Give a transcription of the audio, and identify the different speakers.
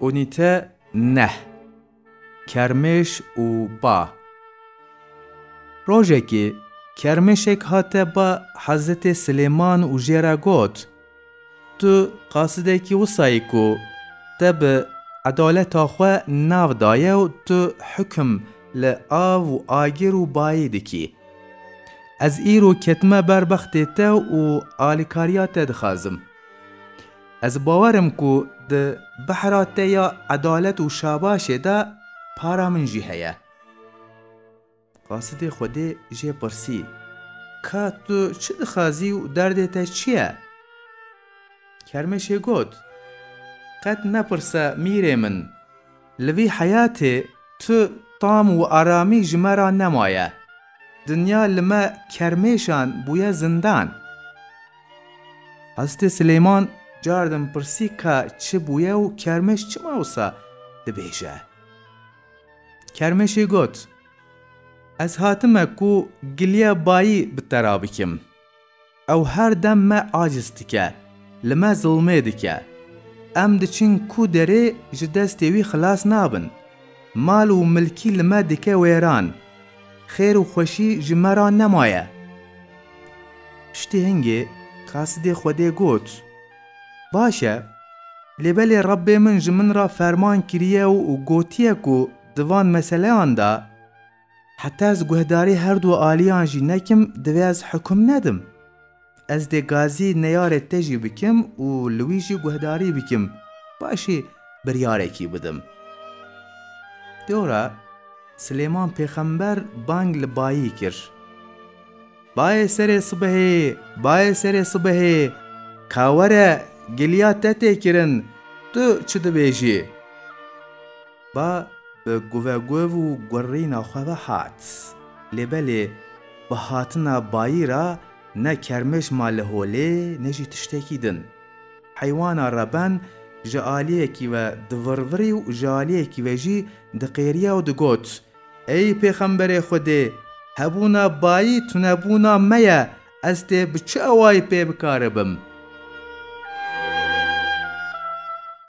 Speaker 1: Unîte neh Kermêş û ba Rojekê kermêşek hate ba Hezetê Silêman û jê re got, Tu qasidekî wisa yî ku te bi edaleta xwe nav daye û tu hukm li av û agir û bayê dikî. Ez îro ketime ber bextê te û alîkariya te dixwazim. Ez bawer im ku di behra te ya edalet û şabaşê de para min jî heye. Qasidê Xwedê jê pirsî, Ka tu çi dixwazî û derdê te çi ye? Kermeşê got, Qet nepirse mîrê min. Li vî heyatê tu tam û aramî ji me re nemaye. Dinya li me kermêşan bûye zindan. Hezretê Silêman cardin pirsî ka çi bûye û kermêş çima wisa dibêje. Kermêşê got, Ez hatime ku giliya bayî bi te re bikim. Ew her dem me aciz dike, li me zilmê dike. Em diçin ku derê ji destê wî xilas nabin. Mal û milkî li me dike wêran. Xêr û xweşî ji me re nemaye. Piştî hingê kasidê Xwedê got, Baş e, lê belê Rebbê min ji min re ferman kiriye û gotiye ku di van meseleyan de, Heta ez guhdarî her du aliyan jî nekim divê ez hikum nedim. Ez dê gazî neyarê te jî bikim û li wî jî guhdarî bikim, paşê biryarekî bidim. Dora Silêman pêxember bang li bayî kir. Bayê serê sibehê, bayê serê sibehê, ka were giliya te tê kirin, tu çi dibêjî? Ba bi guveguv û gurîna xwe ve hat. Lê belê bi hatina bayî re ne kermêj ma li holê ne jî tiştekî din. Heywana reben ji aliyekî ve divirvirî û ji aliyekî ve jî diqêriya û digot, Ey pêxemberê Xwedê! Hebûna bayî tunebûna me ye, ez tê bi çi awayî pê bikaribim?